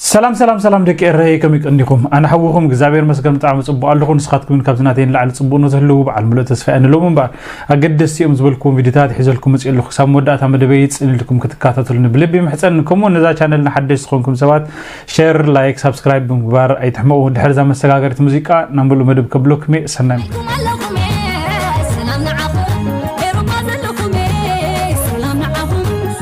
ሰላም ሰላም ሰላም ደቂ ኤረይ ከመይ ቀኒኹም ኣነ ሓውኹም እግዚኣብሔር መስገን ብጣዕሚ ጽቡቅ ኣለኹ ንስኻትኩም እውን ካብዚ ናተይ ንላዕሊ ጽቡቅ ንትህልው በዓል ምሉእ ተስፋ እየ ንሎም እምበር ኣገደስቲ እዮም ዝበልክዎም ቪድዮታት ሒዘልኩም መጽእ ኣለኹ ክሳብ መወዳእታ መደበይ ጽን ኢልኩም ክትከታተሉኒ ብልቢ ይምሕጸን ከምኡ ነዛ ቻነል ንሓደሽ ዝኾንኩም ሰባት ሸር ላይክ ሳብስክራይብ ብምግባር ኣይትሕመቑ ድሕሪ እዛ መሰጋገሪት ሙዚቃ ናብ ምሉእ መደብ ከብለኩም እየ ሰናይ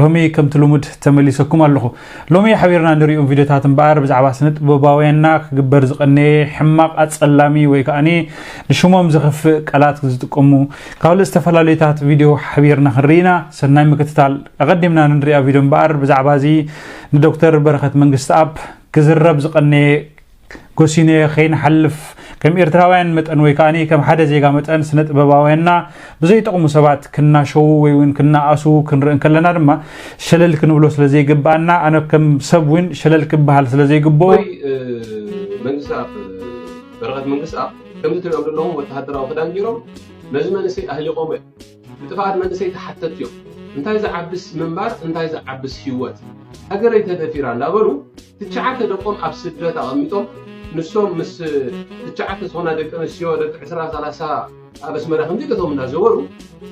ሎሚ ከምቲ ልሙድ ተመሊሰኩም ኣለኹ። ሎሚ ሓቢርና ንሪኡም ቪድዮታት እምበኣር ብዛዕባ ስነ ጥበባውያንና ክግበር ዝቐነየ ሕማቕ ኣጸላሚ ወይ ከኣ ንሽሞም ዘኽፍእ ቃላት ዝጥቀሙ ካልእ ዝተፈላለዩታት ቪድዮ ሓቢርና ክንርኢና ሰናይ ምክትታል። ኣቐዲምና ንንሪኣ ቪድዮ እምበኣር ብዛዕባ እዚ ንዶክተር በረኸት መንግስትኣብ ክዝረብ ዝቐነየ ጎሲንየ ከይንሓልፍ ከም ኤርትራውያን መጠን ወይ ከኣ ከም ሓደ ዜጋ መጠን ስነ ጥበባውያንና ብዘይጠቕሙ ሰባት ክናሸዉ ወይ እውን ክናኣሱ ክንርኢ እንከለና ድማ ሸለል ክንብሎ ስለ ዘይግብኣና ኣነ ከም ሰብ እውን ሸለል ክበሃል ስለ ዘይግብኦ መንግስኣብ በረኸት መንግስኣብ ከምዚ ትሪኦም ዘለኹም ወተሃደራዊ ክዳን ገይሮም ነዚ መንእሰይ ኣህሊቖሞ እዮም ብጥፍኣት መንእሰይ ተሓተት እዮም እንታይ ዝዓብስ ምንባር እንታይ ዝዓብስ ሂወት ሃገረይ ተደፊራ እንዳበሉ ትቸዓተ ደቆም ኣብ ስደት ኣቐሚጦም ንሶም ምስ ትቸዓተ ዝኾና ደቂ ኣንስትዮ ደቂ ዕስራ ሰላሳ ኣብ ኣስመራ ከምዚ ገቶም እናዘወሩ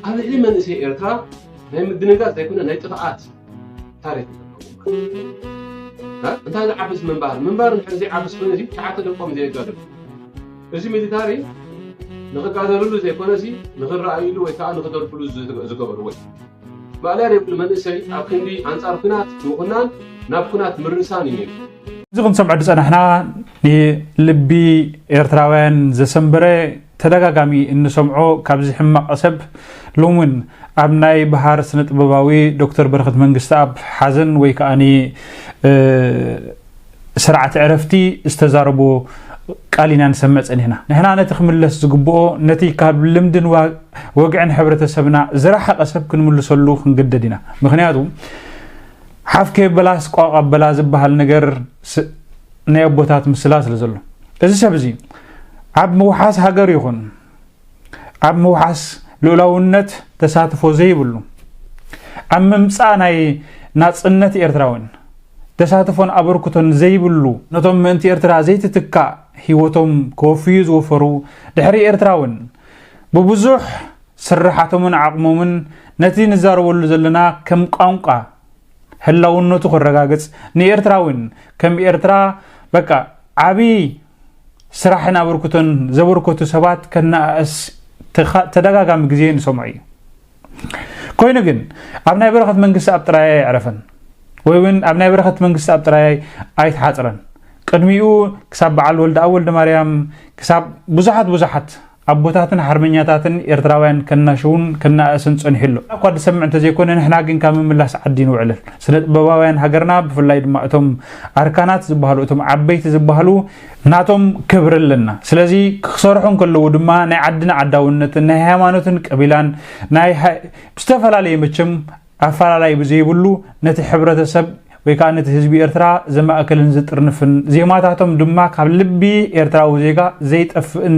ኣብ ልዕሊ መንእሰይ ኤርትራ ናይ ምድንጋጽ ዘይኮነ ናይ ጥፍኣት ታሪክ እንታይ ዝዓብስ ምንባር ምንባር ንሕር ዘይዓብስ ኮይኑ እዚ ትሽዓተ ደቆም ዘየጋድሉ እዚ ሚሊታሪ ንኽጋደልሉ ዘይኮነ እዚ ንኽረኣይሉ ወይ ከዓ ንኽደርብሉ ዝገበርዎ እዩ ማእለያ ዘይብሉ መንእሰይ ኣብ ክንዲ ኣንጻር ኩናት ምኹናን ናብ ኩናት ምርሳን እዩ ነይሩ። እዚ ክንሰምዖ ዝጸናሕና ንልቢ ኤርትራውያን ዘሰንበረ ተደጋጋሚ እንሰምዖ ካብዚ ሕማቕ ሰብ ሎሚ እውን ኣብ ናይ በሃር ስነ ጥበባዊ ዶክተር በረኸት መንግስትኣብ ሓዘን ወይ ከዓኒ ስርዓት ዕረፍቲ ዝተዛረቦ ቃል ኢና ንሰምዕ ጸኒሕና። ንሕና ነቲ ክምለስ ዝግብኦ ነቲ ካብ ልምድን ወግዕን ሕብረተሰብና ዝረሓቐ ሰብ ክንምልሰሉ ክንግደድ ኢና። ምክንያቱ ሓፍ ከየበላስ ቋቕ ኣበላ ዝበሃል ነገር ናይ ኣቦታት ምስላ ስለ ዘሎ እዚ ሰብ እዚ ኣብ ምውሓስ ሃገር ይኹን ኣብ ምውሓስ ልኡላውነት ተሳትፎ ዘይብሉ ኣብ ምምፃእ ናይ ናፅነት ኤርትራውን ተሳትፎን ኣበርክቶን ዘይብሉ ነቶም ምእንቲ ኤርትራ ዘይትትካእ ህይወቶም ከወፍዩ ዝወፈሩ ድሕሪ ኤርትራውን ብብዙሕ ስራሓቶምን ዓቕሞምን ነቲ ንዛረበሉ ዘለና ከም ቋንቋ ህላውነቱ ክረጋግፅ ንኤርትራውን ከም ኤርትራ በቃ ዓብዪ ስራሕን ኣበርክቶን ዘበርከቱ ሰባት ከነኣእስ ተደጋጋሚ ግዜ ንሰምዖ እዩ ኮይኑ ግን ኣብ ናይ በረኸት መንግስቲ ኣብ ጥራይ ኣይዕረፈን ወይ እውን ኣብ ናይ በረኸት መንግስቲ ኣብ ጥራይ ኣይተሓፅረን ቅድሚኡ ክሳብ በዓል ወልደኣብ ወልደ ማርያም ክሳብ ብዙሓት ብዙሓት ኣቦታትን ሓርበኛታትን ኤርትራውያን ከናሽውን ከነኣእስን ጸኒሑ ኣሎ። እኳ ዝሰምዕ እንተዘይኮነ ንሕና ግን ካብ ምምላስ ዓዲ ንውዕልን። ስነጥበባውያን ሃገርና ብፍላይ ድማ እቶም ኣርካናት ዝበሃሉ እቶም ዓበይቲ ዝበሃሉ፣ ናቶም ክብሪ ኣለና ስለዚ ክክሰርሑ እንከለዉ ድማ ናይ ዓድን ዓዳውነትን ናይ ሃይማኖትን ቀቢላን ናይ ዝተፈላለዩ መቸም ኣፈላላይ ብዘይብሉ ነቲ ሕብረተሰብ ወይ ከኣ ነቲ ህዝቢ ኤርትራ ዘማእክልን ዝጥርንፍን ዜማታቶም ድማ ካብ ልቢ ኤርትራዊ ዜጋ ዘይጠፍእን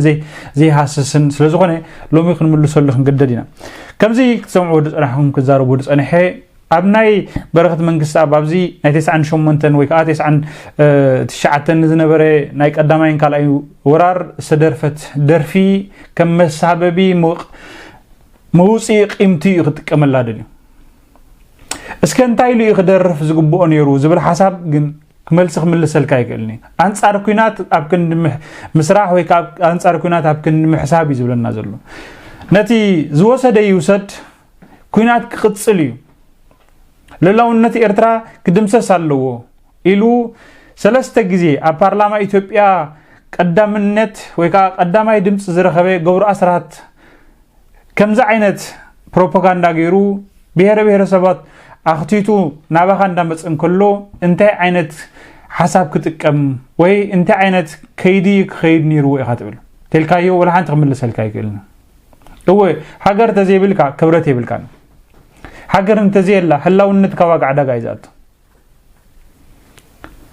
ዘይሃስስን ስለ ዝኾነ ሎሚ ክንምልሰሉ ክንግደድ ኢና ከምዚ ክትሰምዕዎ ዝጸናሕኩም ክዛረቡ ዝጸንሐ ኣብ ናይ በረኸት መንግስቲ ኣብ ኣብዚ ናይ ተስዓን ሸሞንተን ወይ ከዓ ተስዓን ትሽዓተን ዝነበረ ናይ ቀዳማይን ካልኣይ ወራር ዝተደርፈት ደርፊ ከም መሳበቢ ምቕ መውጽኢ ቂምቲ እዩ ክጥቀመላ ደልዩ። እስከ እንታይ ኢሉ እዩ ክደርፍ ዝግብኦ ነይሩ ዝብል ሓሳብ ግን መልሲ ክምልሰልካ ኣይክእልን እዩ። ኣንጻር ኩናት ኣብ ክንዲ ምስራሕ ወይ ከዓ ኣንጻር ኩናት ኣብ ክንዲ ምሕሳብ እዩ ዝብለና ዘሎ። ነቲ ዝወሰደ ይውሰድ ኩናት ክቕጽል እዩ። ልላውነት ኤርትራ ክድምሰስ ኣለዎ። ኢሉ ሰለስተ ግዜ ኣብ ፓርላማ ኢትዮጵያ ቀዳምነት ወይ ከዓ ቀዳማይ ድምፂ ዝረኸበ ገብሩ ኣስራት ከምዚ ዓይነት ፕሮፓጋንዳ ገይሩ ብሄረ ብሄረሰባት ኣኽቲቱ ናባኻ እንዳመፀ እንከሎ እንታይ ዓይነት ሓሳብ ክጥቀም ወይ እንታይ ዓይነት ከይዲ ክኸይድ ነይርዎ ኢኻ ትብል ቴልካዮ ወላ ሓንቲ ክምልሰልካ ይክእልን እወ ሃገር እንተዘይብልካ ክብረት የብልካን ሃገር እንተዘየላ ህላውነትካ ዋጋ ዕዳጋ እዩ ዝኣቱ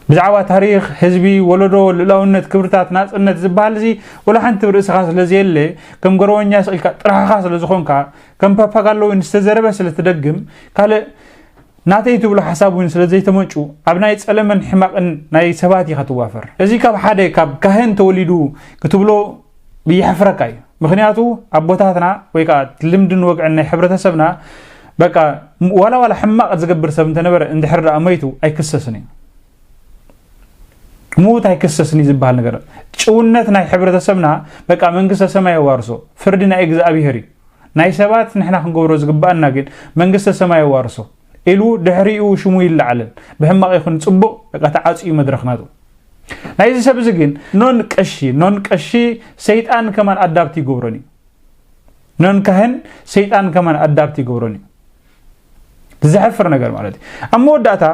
ብዛዕባ ታሪኽ ህዝቢ ወለዶ ልእላውነት ክብርታት ናፅነት ዝበሃል እዚ ወላ ሓንቲ ርእስኻ ስለ ዘየለ ከም ገረወኛ ስኢልካ ጥራሕኻ ስለ ዝኾንካ ከም ፓፓጋሎ እውን ዝተዘረበ ስለ ትደግም ካልእ ናተይ ትብሎ ሓሳብ እውን ስለ ዘይተመንጩ ኣብ ናይ ጸለመን ሕማቕን ናይ ሰባት ኢኻ ትዋፈር እዚ ካብ ሓደ ካብ ካህን ተወሊዱ ክትብሎ የሕፍረካ እዩ ምክንያቱ ኣቦታትና ወይ ከዓ ልምድን ወግዕን ናይ ሕብረተሰብና በቃ ዋላ ዋላ ሕማቅ ዝገብር ሰብ እንተነበረ እንድሕር ደኣ መይቱ ኣይክሰስን እዩ ሙት ኣይክሰስን እዩ ዝበሃል ነገር ጭውነት ናይ ሕብረተሰብና በቃ መንግስተ ሰማይ የዋርሶ ፍርዲ ናይ እግዚኣብሄር እዩ ናይ ሰባት ንሕና ክንገብሮ ዝግባኣና ግን መንግስተ ሰማይ የዋርሶ ኢሉ ድሕሪኡ ሽሙ ይለዓልን ብሕማቕ ይኹን ፅቡቕ በቃ ተዓፅዩ መድረኽናቱ ናይዚ ሰብ እዚ ግን ኖን ቀሺ ኖን ቀሺ ሰይጣን ከማን ኣዳብት ይገብሮን እዩ ኖን ካህን ሰይጣን ከማን ኣዳብት ይገብሮን እዩ ዝሕፍር ነገር ማለት እዩ ኣብ መወዳእታ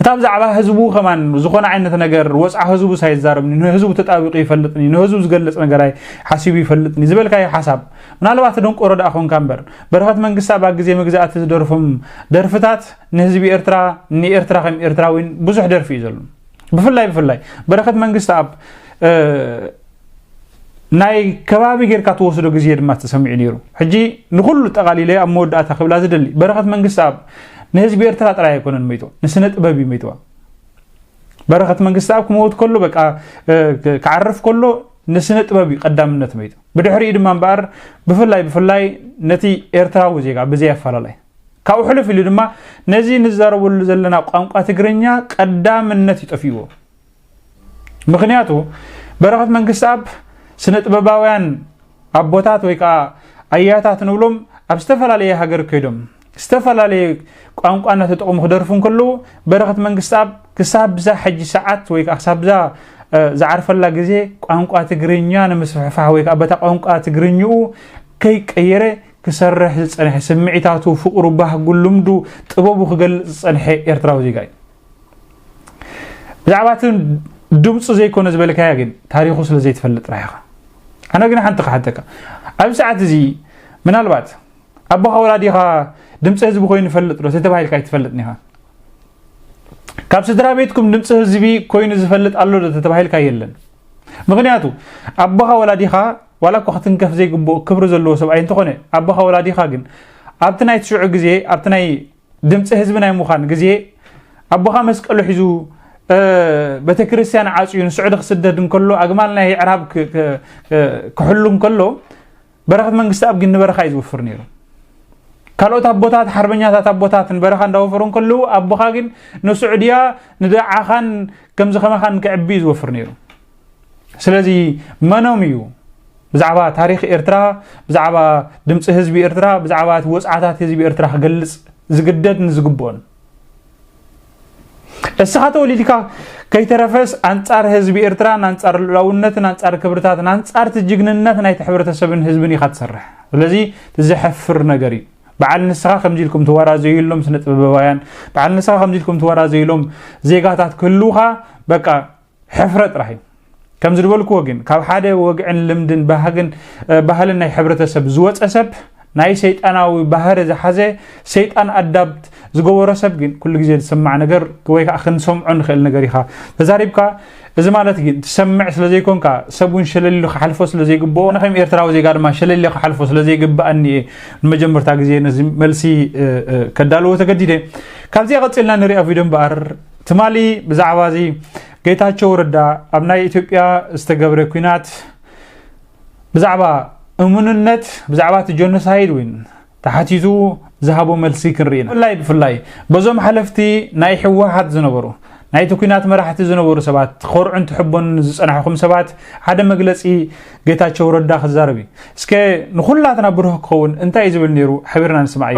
እታ ብዛዕባ ህዝቡ ከማን ዝኾነ ዓይነት ነገር ወፅዓ ህዝቡ ሳይዛረብኒ ንህዝቡ ተጣቢቑ ይፈልጥኒ ንህዝቡ ዝገልፅ ነገራይ ሓሲቡ ይፈልጥኒ ዝበልካዮ ሓሳብ ምናልባት ደንቆሮ ደኣ ኮንካ እምበር በረኸት መንግስታ ኣብ ግዜ መግዛእቲ ዝደርፎም ደርፍታት ንህዝቢ ኤርትራ ንኤርትራ ከም ኤርትራዊን ብዙሕ ደርፊ እዩ ዘሎ ብፍላይ ብፍላይ በረከት መንግስቲ ኣብ ናይ ከባቢ ጌርካ ተወስዶ ግዜ ድማ ተሰሚዑ ነይሩ ሕጂ ንኩሉ ጠቃሊለ ኣብ መወዳእታ ክብላ ዝደሊ በረከት መንግስቲ ኣብ ንህዝቢ ኤርትራ ጥራይ ኣይኮነን መይቶ ንስነ ጥበብ እዩ መይትዋ በረከት መንግስቲ ኣብ ክመውት ከሎ በቃ ክዓርፍ ከሎ ንስነ ጥበብ እዩ ቀዳምነት መይቱ ብድሕሪኡ ድማ እምበኣር ብፍላይ ብፍላይ ነቲ ኤርትራዊ ዜጋ ብዘይ ኣፈላላይ ካብኡ ሕልፍ ኢሉ ድማ ነዚ ንዛረበሉ ዘለና ቋንቋ ትግርኛ ቀዳምነት ይጠፍዎ ምክንያቱ በረኸት መንግስቲ ኣብ ስነ ጥበባውያን ኣቦታት ወይ ከዓ ኣያታት ንብሎም ኣብ ዝተፈላለየ ሃገር ከይዶም ዝተፈላለየ ቋንቋ እናተጠቕሙ ክደርፉ እንከለዉ በረኸት መንግስቲ ኣብ ክሳብ ብዛ ሕጂ ሰዓት ወይ ከዓ ክሳብ ብዛ ዝዓርፈላ ግዜ ቋንቋ ትግርኛ ንምስፍሕፋሕ ወይ ከዓ በታ ቋንቋ ትግርኝኡ ከይቀየረ ክሰርሕ ዝጸንሐ፣ ስምዒታቱ፣ ፍቕሩ፣ ባህጉ፣ ልምዱ፣ ጥበቡ ክገልጽ ዝጸንሐ ኤርትራዊ ዜጋ እዩ። ብዛዕባ እቲ ድምጹ ዘይኮነ ዝበልካያ ግን ታሪኹ ስለ ዘይትፈልጥ ጥራሕ ኢኻ። ኣነ ግን ሓንቲ ክሓተካ ኣብዚ ሰዓት እዚ ምናልባት ኣቦኻ ወላዲኻ ድምፂ ህዝቢ ኮይኑ ይፈልጥ ዶ ተባሂልካ ኣይትፈልጥን ኢኻ ካብ ስድራ ቤትኩም ድምፂ ህዝቢ ኮይኑ ዝፈልጥ ኣሎ ዶ ተባሂልካ የለን ምኽንያቱ ኣቦኻ ወላዲኻ ዋላ እኳ ክትንከፍ ዘይግብኦ ክብሪ ዘለዎ ሰብኣይ እንተኾነ ኣቦኻ ወላዲኻ ግን ኣብቲ ናይ ትሽዑ ግዜ ኣብቲ ናይ ድምፂ ህዝቢ ናይ ምዃን ግዜ ኣቦኻ መስቀሉ ሒዙ ቤተ ክርስቲያን ዓፅዩ ንስዑዲ ክስደድ እንከሎ ኣግማል ናይ ዕራብ ክሕሉ እንከሎ በረኸት መንግስትኣብ ግን ንበረኻ እዩ ዝውፍር ነይሩ ካልኦት ኣቦታት ሓርበኛታት ኣቦታት ንበረኻ እንዳወፈሩ እንከለዉ ኣቦኻ ግን ንስዑድያ ንደዓኻን ከምዚ ከማኻን ክዕቢ እዩ ዝወፍር ነይሩ ስለዚ መኖም እዩ ብዛዕባ ታሪክ ኤርትራ ብዛዕባ ድምፂ ህዝቢ ኤርትራ ብዛዕባ እቲ ወፅዓታት ህዝቢ ኤርትራ ክገልፅ ዝግደድ ንዝግብኦን እስኻ ተወሊድካ ከይተረፈስ ኣንጻር ህዝቢ ኤርትራን ኣንጻር ልዑላውነትን ኣንጻር ክብርታትን ኣንጻርቲ ጅግንነት ናይቲ ሕብረተሰብን ህዝብን ኢኻ ትሰርሕ ስለዚ ዘሐፍር ነገር እዩ በዓል ንስኻ ከምዚ ኢልኩም ተወራዘዩሎም ስነ ጥበባውያን በዓል ንስኻ ከምዚ ኢልኩም ተወራዘዩሎም ዜጋታት ክህልውኻ በቃ ሕፍረ ጥራሕ እዩ ከምዚ ዝበልክዎ ግን ካብ ሓደ ወግዕን ልምድን ባህግን ባህልን ናይ ሕብረተሰብ ዝወፀ ሰብ ናይ ሰይጣናዊ ባህሪ ዝሓዘ ሰይጣን ኣዳብት ዝገበሮ ሰብ ግን ኩሉ ግዜ ዝሰማዕ ነገር ወይ ከዓ ክንሰምዖ ንኽእል ነገር ኢኻ ተዛሪብካ እዚ ማለት ግን ትሰምዕ ስለ ዘይኮንካ ሰብ እውን ሸለሊሉ ክሓልፎ ስለ ዘይግብኦ ንከም ኤርትራዊ ዜጋ ድማ ሸለሊለ ክሓልፎ ስለ ዘይግብኣኒ እየ ንመጀመርታ ግዜ ነዚ መልሲ ከዳልዎ ተገዲደ ካብዚኣ ቀፂልና ንሪኣ ቪድዮ እምበኣር ትማሊ ብዛዕባ እዚ ጌታቸው ረዳ ኣብ ናይ ኢትዮጵያ ዝተገብረ ኩናት ብዛዕባ እሙንነት ብዛዕባ እቲ ጀኖሳይድ እውን ተሓቲቱ ዝሃቦ መልሲ ክንርኢ ኢና ብፍላይ ብፍላይ በዞም ሓለፍቲ ናይ ሕወሓት ዝነበሩ ናይቲ ኩናት መራሕቲ ዝነበሩ ሰባት ክኮርዑን ትሕቦን ዝፀናሕኹም ሰባት ሓደ መግለፂ ጌታቸው ረዳ ክዛረብ እዩ እስከ ንኩላትና ብሩህ ክኸውን እንታይ እዩ ዝብል ነይሩ ሓቢርና ንስማዕ እዩ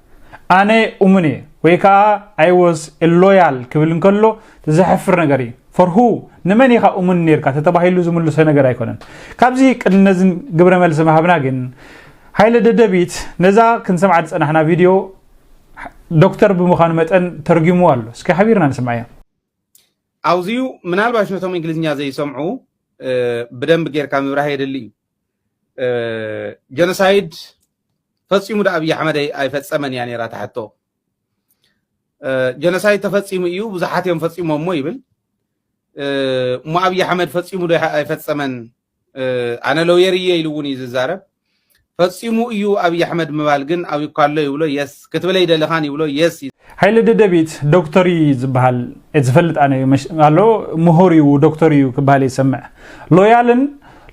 ኣነ እሙን እየ ወይ ከዓ ኣይ ወዝ ሎያል ክብል እንከሎ ዘሕፍር ነገር እዩ ፎር ሁ ንመን ኢኻ እሙን ነርካ ተተባሂሉ ዝምልሶ ነገር ኣይኮነን ካብዚ ቅድሚ ነዚ ግብረ መልሲ ምሃብና ግን ሃይለ ደደቢት ነዛ ክንሰምዓ ዝፀናሕና ቪድዮ ዶክተር ብምዃኑ መጠን ተርጊሙ ኣሎ እስኪ ሓቢርና ንስምዐ እያ ኣብዚዩ ምናልባሽ ነቶም እንግሊዝኛ ዘይሰምዑ ብደንብ ጌርካ ምብራህ የድሊ እዩ ጀኖሳይድ ፈፂሙ ዶ ኣብይ ኣሕመድ ኣይፈፀመን እያ ነይራ ትሓቶ ጀኖሳይድ ተፈፂሙ እዩ ብዙሓት እዮም ፈፂሞሞ ይብል እሞ ኣብይ ኣሕመድ ፈፂሙ ዶ ኣይፈፀመን ኣነ ሎየር እየ ኢሉ እውን እዩ ዝዛረብ ፈፂሙ እዩ ኣብይ ኣሕመድ ምባል ግን ኣብዩ ካሎ ይብሎ የስ ክትብል ኣይደለኻን ይብሎ የስ ሃይለ ደደቢት ዶክተር እዩ ዝበሃል ዝፈልጥ ኣነ እዩ ኣሎ ምሁር እዩ ዶክተር እዩ ክበሃል ይሰምዕ ሎያልን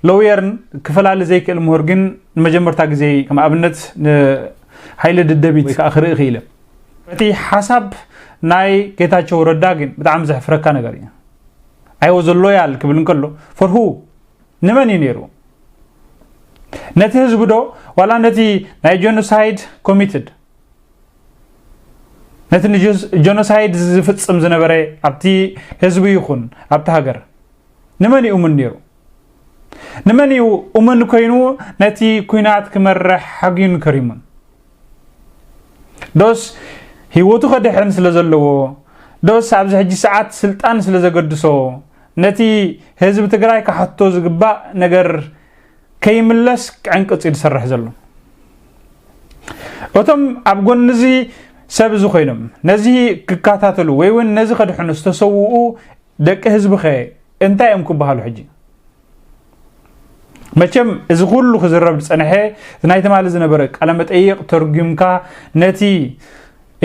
ሎየርን ክፈላሊ ዘይክእል ምሁር ግን ንመጀመርታ ግዜ ከም ኣብነት ንሃይለ ደደቢት ወይ ከዓ ክርኢ ክኢለ እቲ ሓሳብ ናይ ጌታቸው ረዳ ግን ብጣዕሚ ዘሕፍረካ ነገር እዩ ኣይወዘ ሎያል ክብል እንከሎ ፈርሁ ንመን እዩ ነይሩ? ነቲ ህዝቢ ዶ ዋላ ነቲ ናይ ጀኖሳይድ ኮሚትድ ነቲ ንጀኖሳይድ ዝፍጽም ዝነበረ ኣብቲ ህዝቢ ይኹን ኣብቲ ሃገር ንመን እዩ እሙን ነይሩ ንመን እዩ እሙን ኮይኑ ነቲ ኩናት ክመርሕ ሓግዩን ከሪሙን ዶስ ህይወቱ ከድሕን ስለ ዘለዎ ዶስ ኣብዚ ሕጂ ሰዓት ስልጣን ስለ ዘገድሶ ነቲ ህዝቢ ትግራይ ካሕቶ ዝግባእ ነገር ከይምለስ ዕንቅፅ እዩ ዝሰርሕ ዘሎ እቶም ኣብ ጎኒ እዚ ሰብ እዚ ኮይኖም ነዚ ክከታተሉ ወይ እውን ነዚ ከድሕኑ ዝተሰውኡ ደቂ ህዝቢ ከ እንታይ እዮም ክበሃሉ ሕጂ መቸም እዚ ኩሉ ክዝረብ ዝፀንሐ ናይ ትማሊ ዝነበረ ቃለመጠይቕ ተርጒምካ ነቲ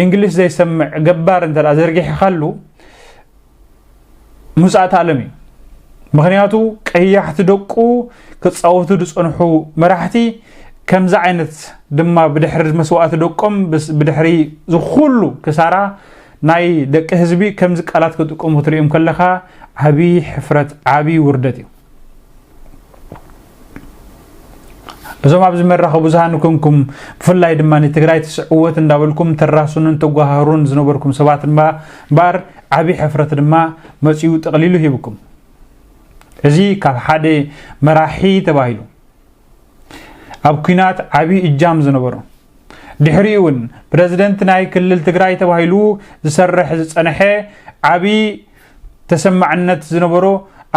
እንግሊሽ ዘይሰምዕ ገባር እንተ ዘርጊሕኻሉ ምውፃእቲ ኣለም እዩ ምክንያቱ ቀያሕቲ ደቁ ክፃወቱ ዝፀንሑ መራሕቲ ከምዚ ዓይነት ድማ ብድሕሪ መስዋእቲ ደቆም ብድሕሪ ዝኩሉ ክሳራ ናይ ደቂ ህዝቢ ከምዚ ቃላት ክጥቀሙ ክትሪኦም ከለኻ ዓቢ ሕፍረት ዓቢ ውርደት እዩ። እዞም ኣብዚ መራኸቢ ብዙሃን ኮንኩም ብፍላይ ድማ ንትግራይ ትስዕወት እንዳበልኩም ተራሱንን ተጓሃሩን ዝነበርኩም ሰባት ድማ እምበኣር ዓብዪ ሕፍረት ድማ መፂኡ ጠቕሊሉ ሂብኩም እዚ ካብ ሓደ መራሒ ተባሂሉ ኣብ ኩናት ዓብዪ እጃም ዝነበሮ ድሕሪኡ እውን ፕረዚደንት ናይ ክልል ትግራይ ተባሂሉ ዝሰርሕ ዝፀነሐ ዓብዪ ተሰማዕነት ዝነበሮ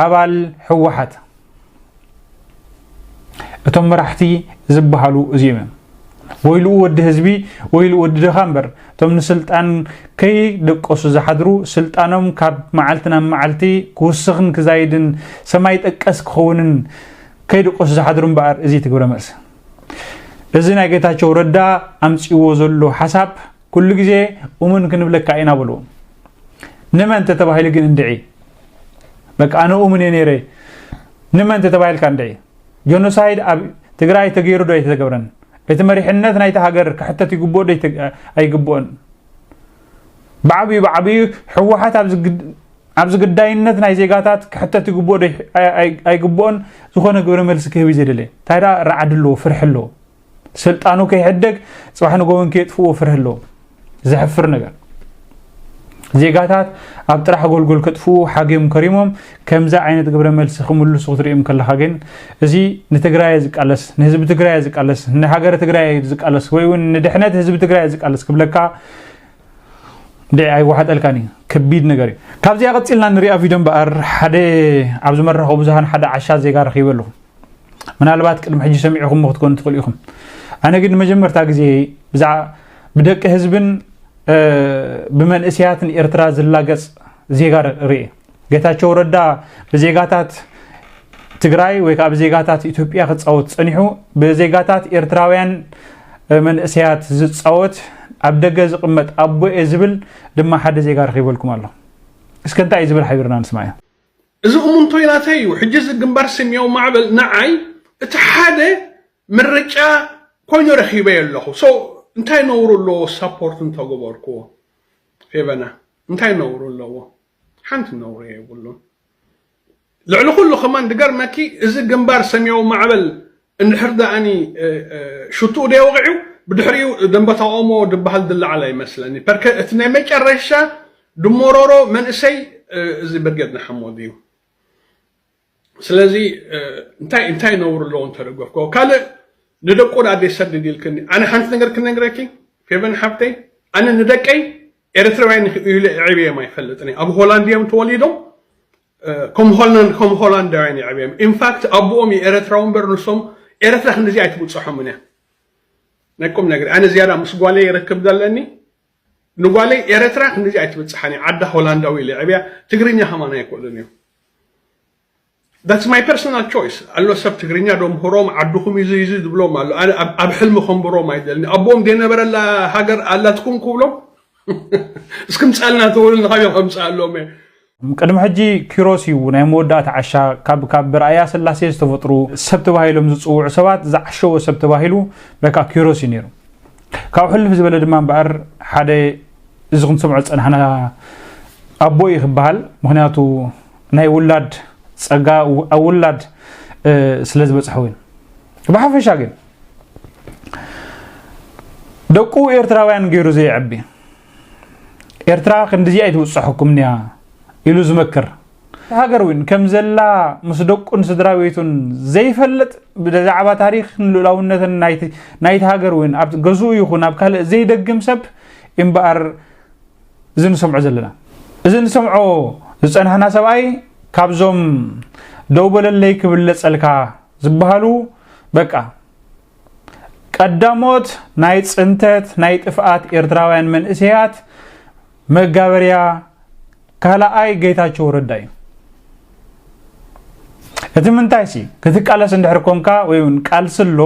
ኣባል ህወሓት እቶም መራሕቲ ዝበሃሉ እዚኦም እዮም ወይልኡ ወዲ ህዝቢ ወይልኡ ወዲ ድኻ እምበር እቶም ንስልጣን ከይደቀሱ ዝሓድሩ ስልጣኖም ካብ መዓልቲ ናብ መዓልቲ ክውስኽን ክዛይድን ሰማይ ጠቀስ ክኸውንን ከይድቀሱ ዝሓድሩ እምበኣር እዚ እቲ ግብረ መልሲ እዚ ናይ ጌታቸው ረዳ ኣምፅዎ ዘሎ ሓሳብ ኩሉ ግዜ እሙን ክንብለካ ኢና በልዎ ንመን ተተባሂሉ ግን እንድዒ በቃ ኣነ እሙን እየ ነይረ ንመን ተተባሂልካ እንድዒ ጆኖሳይድ ኣብ ትግራይ ተገይሩ ዶ ኣይተተገብረን እቲ መሪሕነት ናይቲ ሃገር ክሕተት ይግብኦ ዶ ኣይግብኦን ብዓብዩ ብዓብዩ ሕወሓት ኣብዚ ኣብዚ ግዳይነት ናይ ዜጋታት ክሕተት ይግብኦ ዶ ኣይግብኦን ዝኾነ ግብረ መልሲ ክህብ እዩ ዘይደለየ እንታይ ደኣ ራዕዲ ኣለዎ ፍርሒ ኣለዎ ስልጣኑ ከይሕደግ ፅባሕ ንጎበን ከየጥፍዎ ፍርሒ ኣለዎ ዘሕፍር ነገር ዜጋታት ኣብ ጥራሕ ጎልጎል ከጥፍኡ ሓገም ከሪሞም ከምዚ ዓይነት ግብረ መልሲ ክምልሱ ክትሪኦም ከለካ ግን እዚ ንትግራይ ዝቃለስ ንህዝቢ ትግራይ ዝቃለስ ንሃገረ ትግራይ ዝቃለስ ወይ እውን ንድሕነት ህዝቢ ትግራይ ዝቃለስ ክብለካ እንድዒ ኣይወሓጠልካን እዩ ከቢድ ነገር እዩ ካብዚኣ ቀፂልና ንሪኣ ቪድዮ እምበኣር ሓደ ኣብዚ መራኸቢ ብዙሃን ሓደ ዓሻ ዜጋ ረኺበ ኣለኹ ምናልባት ቅድሚ ሕጂ ሰሚዕኹም ክትኮኑ ትኽእሉ ኢኹም ኣነ ግን ንመጀመርታ ግዜ ብዛዕባ ብደቂ ህዝብን ብመንእስያትን ኤርትራ ዝላገፅ ዜጋ ርእየ ጌታቸው ረዳ ብዜጋታት ትግራይ ወይ ከዓ ብዜጋታት ኢትዮጵያ ክፃወት ፀኒሑ ብዜጋታት ኤርትራውያን መንእሰያት ዝፃወት ኣብ ደገ ዝቕመጥ ኣቦ እየ ዝብል ድማ ሓደ ዜጋ ረኺበልኩም ኣሎ እስከ እንታይ እዩ ዝብል ሓቢርና ንስማዮ እዚ እሙንቶይ ናተይ እዩ ሕጂ እዚ ግንባር ሰሚያዊ ማዕበል ንዓይ እቲ ሓደ ምርጫ ኮይኑ ረኺበዮ ኣለኹ ሶ እንታይ ነውሩ ኣለዎ ሳፖርት እንተገበርክዎ ፌቨና እንታይ ነውሩ ኣለዎ ሓንቲ ነውሪ የብሉን ልዕሊ ኩሉ ከማን ድገርመኪ እዚ ግንባር ሰምያዊ ማዕበል እንድሕር ደኣኒ ሽትኡ ደይወቂዑ ብድሕሪኡ ደንበታ ኦሞ ድበሃል ድለዓል ኣይመስለኒ ፐርከ እቲ ናይ መጨረሻ ድሞሮሮ መንእሰይ እዚ ብርጌድ ንሓመዱ እዩ ስለዚ እንታይ እንታይ ነውሪ ኣለዎ እንተደገፍክዎ ካልእ ንደቁ ዳ ዘይሰድድ ኢልክኒ ኣነ ሓንቲ ነገር ክነግረኪ ፌቨን ሓብተይ ኣነ ንደቀይ ኤርትራውያን ኢለ የዕብየም ኣይፈልጥን ኣብ ሆላንድ እዮም ተወሊዶም ከም ሆላንድ ከም ሆላንዳውያን የዕብየም ኢንፋክት ኣቦኦም የኤረትራዊ እምበር ንሶም ኤረትራ ክንዲዚ ኣይትብፅሖምን እያ ናይ ቁም ነገር ኣነ ዝያዳ ምስ ጓለይ ይረክብ ዘለኒ ንጓለይ ኤረትራ ክንዲዚ ኣይትብፅሓን እያ ዓዳ ሆላንዳዊ ኢለ የዕብያ ትግርኛ ከማን ኣይክእሉን እዮም ዳትስ ማይ ፐርሰናል ቾይስ ኣሎ ሰብ ትግርኛ ዶ ምህሮም ዓድኹም ኢዙ ኢዙ ዝብሎም ኣሎ ኣነ ኣብ ሕልሚ ከንብሮም ኣይደልኒ ኣቦኦም ዘይነበረላ ሃገር ኣላትኩም ክብሎም እስኪ ምጻልና ተወልን ካበ ከምጽኣሎም እየ ቅድሚ ሕጂ ኪሮስ እዩ ናይ መወዳእታ ዓሻ ካብ ካብ ብርኣያ ስላሴ ዝተፈጥሩ ሰብ ተባሂሎም ዝፅውዑ ሰባት ዝዓሸወ ሰብ ተባሂሉ በቃ ኪሮስ እዩ ነይሩ ካብ ሕልፍ ዝበለ ድማ እምበኣር ሓደ እዚ ክንሰምዖ ዝጸናሕና ኣቦ እዩ ክበሃል ምክንያቱ ናይ ውላድ ጸጋ ኣብ ውላድ ስለ ዝበጽሐ እውን ብሓፈሻ ግን ደቁ ኤርትራውያን ገይሩ ዘየዕቢ ኤርትራ ክንዲዚኣ ኣይትብጽሐኩም እያ ኢሉ ዝመክር ሃገር እውን ከም ዘላ ምስ ደቁን ስድራ ቤቱን ዘይፈልጥ ብዛዕባ ታሪክን ልኡላውነትን ናይቲ ሃገር እውን ኣብ ገዝኡ ይኹን ኣብ ካልእ ዘይደግም ሰብ እምበኣር እዚ ንሰምዖ ዘለና እዚ ንሰምዖ ዝፀናሕና ሰብኣይ ካብዞም ደው በለለይ ክብለፀልካ ዝበሃሉ በቃ ቀዳሞት ናይ ጽንተት ናይ ጥፍኣት ኤርትራውያን መንእሰያት መጋበርያ ካልኣይ ጌታቸው ረዳ እዩ እቲ ምንታይ ሲ ክትቃለስ እንድሕር ኮንካ ወይ እውን ቃልሲ ኣሎ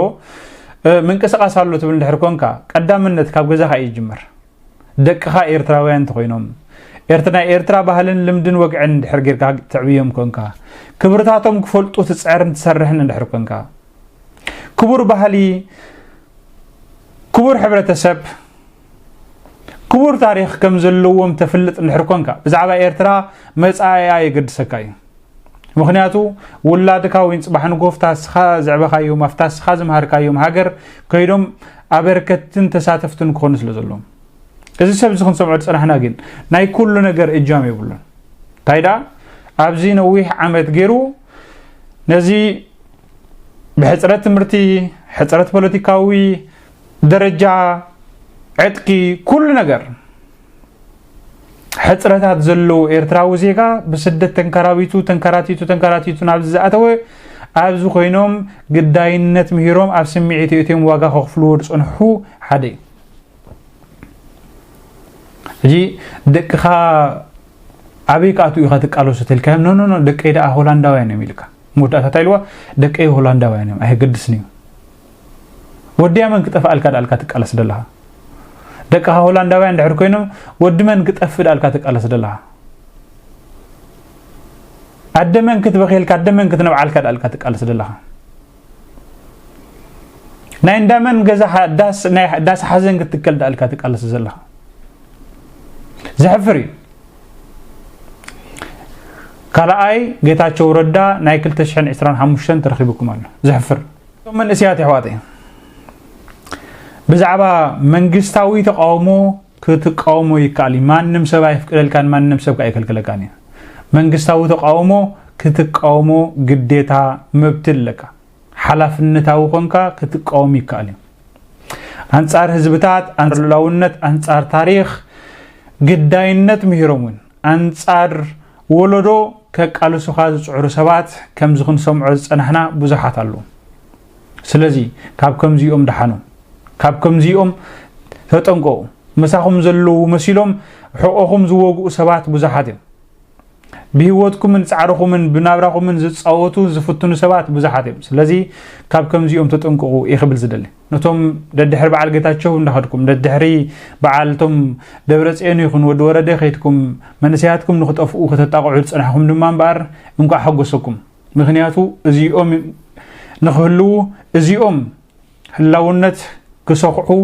ምንቅስቓስ ኣሎ ትብል እንድሕር ኮንካ ቀዳምነት ካብ ገዛኻ እዩ ይጅምር ደቅኻ ኤርትራውያን እንተኾይኖም ኤርት ናይ ኤርትራ ባህልን ልምድን ወግዕን እንድሕር ጌርካ ትዕብዮም ኮንካ ክብርታቶም ክፈልጡ ትጽዕርን ትሰርሕን እንድሕር ኮንካ ክቡር ባህሊ ክቡር ሕብረተሰብ ክቡር ታሪኽ ከም ዘለዎም ተፍልጥ እንድሕር ኮንካ ብዛዕባ ኤርትራ መጻኢኣ የገድሰካ እዩ ምክንያቱ ውላድካ ወይ ፅባሕ ንጎፍ ታስኻ ዘዕበኻዮም ኣብ ታስኻ ዝምሃርካዮም ሃገር ከይዶም ኣበርከትን ተሳተፍትን ክኾኑ ስለ ዘለዎም እዚ ሰብ እዚ ክንሰምዖ ዝፅናሕና ግን ናይ ኩሉ ነገር እጃም የብሉን እንታይ ደኣ ኣብዚ ነዊሕ ዓመት ገይሩ ነዚ ብሕፅረት ትምህርቲ ሕፅረት ፖለቲካዊ ደረጃ ዕጥቂ ኩሉ ነገር ሕፅረታት ዘለዎ ኤርትራዊ ዜጋ ብስደት ተንከራቢቱ ተንከራቲቱ ተንከራቲቱ ናብዚ ዝኣተወ ኣብዚ ኮይኖም ግዳይነት ምሂሮም ኣብ ስምዒት እትዮም ዋጋ ከኽፍልዎ ዝፅንሑ ሓደ እዩ ሕጂ ደቅኻ ኣበይ ክኣትኡ ኢኻ ትቃለሱ ተልካዮም ኖኖኖ ደቀይ ደኣ ሆላንዳውያን እዮም ኢልካ መወዳእታ እንታይ ኢልዋ ደቀይ ሆላንዳውያን እዮም ኣይገድስን እዩ ወድያ መን ክጠፍኣልካ ዳኣልካ ትቃለስ ደለኻ ደቅኻ ሆላንዳውያን ድሕር ኮይኖም ወዲ መን ክጠፍእ ዳኣልካ ትቃለስ ደለኻ ኣደ መን ክትበኺልካ ኣደ መን ክትነብዓልካ ዳኣልካ ትቃለስ ደለኻ ናይ እንዳ መን ገዛ ዳስ ናይ ዳስ ሓዘን ክትከል ዳኣልካ ትቃለስ ዘለኻ ዘሕፍር እዩ ካልኣይ ጌታቸው ረዳ ናይ 225 ተረኺብኩም ኣሎ ዘሕፍር እቶም መንእሰያት የሕዋተይ ብዛዕባ መንግስታዊ ተቃውሞ ክትቃውሞ ይከኣል እዩ ማንም ሰብ ኣይፍቅደልካን ማንም ሰብ ኣይከልክለካን እዩ መንግስታዊ ተቃውሞ ክትቃውሞ ግዴታ መብቲ ኣለካ ሓላፍነታዊ ኮንካ ክትቃወም ይከኣል እዩ ኣንጻር ህዝብታት ኣንጻር ሉላውነት ኣንጻር ታሪክ ግዳይነት ምሂሮም እውን ኣንጻር ወሎዶ ከቃልሱኻ ዝጽዕሩ ሰባት ከምዚ ክንሰምዖ ዝጸናሕና ብዙሓት ኣሉ ስለዚ ካብ ከምዚኦም ደሓኑ ካብ ከምዚኦም ተጠንቀቑ ምሳኹም ዘለዉ መሲሎም ሕቆኹም ዝወግኡ ሰባት ብዙሓት እዮም ብህይወትኩምን ጻዕርኹምን ብናብራኹምን ዝጻወቱ ዝፍትኑ ሰባት ብዙሓት እዮም ስለዚ ካብ ከምዚኦም ተጠንቀቑ እየ ክብል ዝደሊ ነቶም ደድሕሪ በዓል ጌታቸው እንዳኸድኩም ደድሕሪ በዓል እቶም ደብረፅዮን ይኹን ወዲ ወረደ ከይድኩም መንእሰያትኩም ንክጠፍኡ ከተጣቕዑ ዝፅናሕኹም ድማ እምበኣር እንኳዕ ሓጎሰኩም ምክንያቱ እዚኦም ንክህልዉ እዚኦም ህላውነት ክሰኽዑ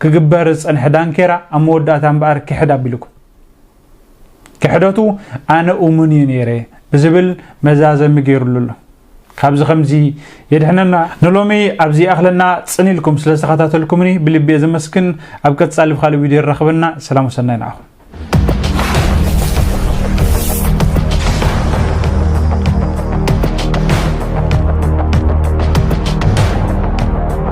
ክግበር ዝፀንሐ ዳንኬራ ኣብ መወዳእታ እምበኣር ክሕድ ኣቢልኩም ክሕደቱ ኣነ እሙን እዩ ነይረ ብዝብል መዛዘሚ ገይሩሉ ኣሎ ካብዚ ከምዚ የድሕነና ንሎሚ ኣብዚ ይኣኽለና ጽን ኢልኩም ስለ ዝተኸታተልኩምኒ ብልቢ እየ ዘመስግን ኣብ ቀጻሊ ብካልእ ቪድዮ ይራኽበና ሰላም ወሰናይ ንዓኹም